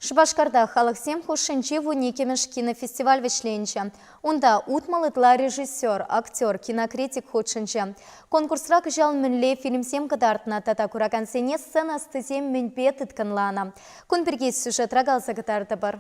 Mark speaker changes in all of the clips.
Speaker 1: Шупашкарта халӑхсем хушшинчи вун иккӗмӗш кинофестиваль вӗҫленчӗ. Унта утмӑл ытла режиссер, актер, кинокритик хутшӑнчӗ. Конкурсра кӑҫал мӗнле фильмсем кӑтартнӑ тата куракансене сцена ӑстисем мӗнпе тыткӑнланӑ? Кун пирки сюжетра каласа кӑтартӑпӑр.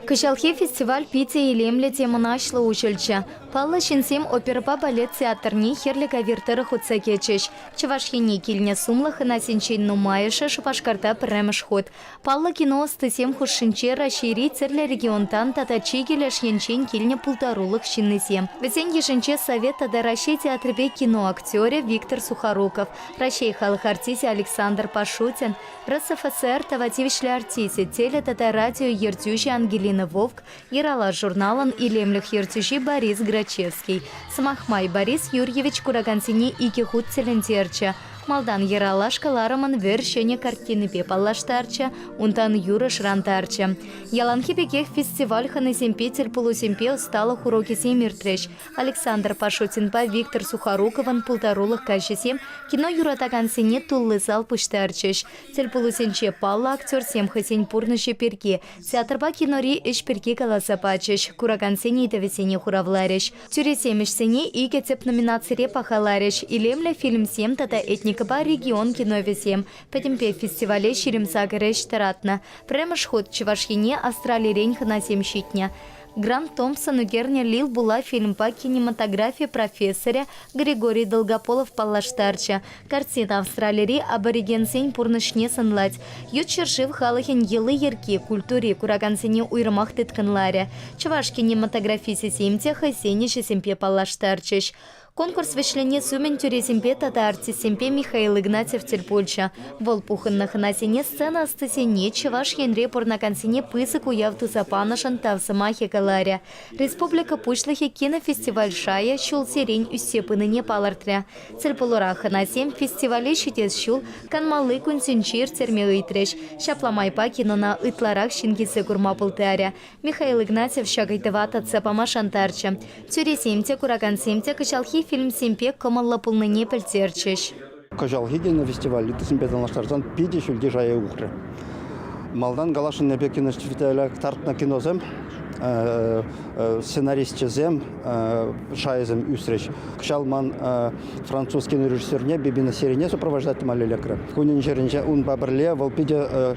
Speaker 1: Кӑҫалхи фестиваль питӗ илемлӗ те мӑнаҫлӑ уҫӑлчӗ. Паллӑ ҫынсем оперӑпа балет театрне хӗрлӗ ковир тӑрӑх утса кӗчӗҫ. Чӑваш Ене килнӗ сумлӑ хӑнасенчен нумайӑшӗ Шупашкарта пӗрремӗш хут. Паллӑ кино ӑстисем хушшинче Раҫҫейри тӗрлӗ регионтан тата чикӗ леш енчен килнӗ пултарулӑх ҫыннисем. Вӗсен йышӗнче Совет тата Раҫҫей театрӗпе кино актерӗ Виктор Сухоруков, Раҫҫей халӑх артисчӗ Александр Пашутин, РСФСР тава тивӗҫлӗ артисчӗ, теле тата радио ертӳҫи Ангелина Вовк, Иралаш журналӑн илемлӗх ертӳҫи Борис Грачевский, сӑмах май, Борис Юрьевич куракансене икӗ хут тӗлӗнтерчӗ. Малтан Ералаш кӑларӑмӑн вӗр ҫӗнӗ картинипе паллаштарчӗ, унтан юрӑ шӑрантарчӗ. Яланхи пекех фестиваль хӑнисемпе тӗлпулусемпе ӑсталӑх урокӗсем иртрӗҫ. Александр Пашотинпа Виктор Сухоруковӑн пултарулӑх каҫӗсем кино юратакансене тулли зал пуҫтарчӗҫ. Тӗлпулусенче паллӑ актерсем хӑйсен пурнӑҫӗ пирки, Театрпа кинори ӗҫ пирки каласа пачӗҫ, куракансен ыйтӑвӗсене хуравларӗҫ. Тӳресем ӗҫсене икӗ тӗп номинацире пахаларӗҫ, илемлӗ фильмсем тата этникӑпа регион киновӗсем, пӗтӗмпе фестивале ҫирӗм сакӑр ӗҫ тӑратнӑ. Пӗрремӗш хут Чӑваш Ене Австралирен хӑнасем ҫитнӗ. Грант Томпсон ӳкернӗ Лил Була фильмпа кинематографи профессорӗ Григорий Долгополов паллаштарчӗ. Картина Австралири аборигенсен пурнӑҫне сӑнлать. Ют ҫӗршыв халӑхӗн йӑли-йӗрки, культури куракансене уйрӑмах тыткӑнларӗ. Чӑваш кинематографисӗсем те хӑйсен ӗҫӗсемпе паллаштарчӗҫ. Конкурс вӗҫленес умӗн тӳресемпе тата артистсемпе Михаил Игнатьев тӗл пулчӗ. Вӑл пухӑннӑ хӑнасене сцена ӑстисене Чӑваш Енре пурӑнакансене пысӑк уяв туса панӑшӑн тав сӑмахӗ каларӗ. Республика Пуҫлӑхӗ кинофестиваль шайӗ ҫулсерен ӳссе пынине палӑртрӗ. Тӗлпулура хӑнасем фестивале ҫитес ҫул канмалли кунсенче ирттерме ыйтрӗҫ. Ҫапла майпа кинона ытларах ҫын килсе курма пултарӗ. Михаил Игнатьев ҫак ыйтӑва татса пама шантарчӗ. Тӳресем те, куракансем те кӑҫалхи фильмсемпе кӑмӑллӑ пулнине пӗлтерчӗҫ. Кӑҫалхи тенӗ
Speaker 2: фестиваль ыттисемпе танлаштарсан питӗ ҫӳлти шая ухрӗ. Малтан калаҫнӑ пек кинофестиваля кӑтартнӑ киносем сценарисчӗсем шайӗсем ӳсрӗҫ. Кӑҫал ман француз кинорежиссерне Бибина серине сопровождать тӑма лекрӗ. Кунӗн-ҫӗрӗнче унпа пӗрле вӑл питӗ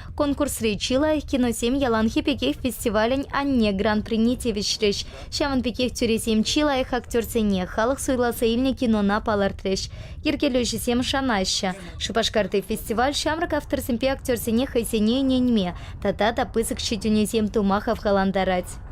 Speaker 1: Конкурсри чи лайӑх киносем яланхи пекех фестивалӗн «Анне» гран-прине тивӗҫрӗҫ. Ҫавӑн пекех тӳресем чи лайӑх актерсене халӑх суйласа илнӗ кинона палӑртрӗҫ. Йӗркелӳҫӗсем шанаҫҫӗ, Шупашкарти фестиваль ҫамрӑк авторсемпе актерсене хӑйсене ӗненме тата та пысӑк ҫитӗнӳсем тума хавхалантарать.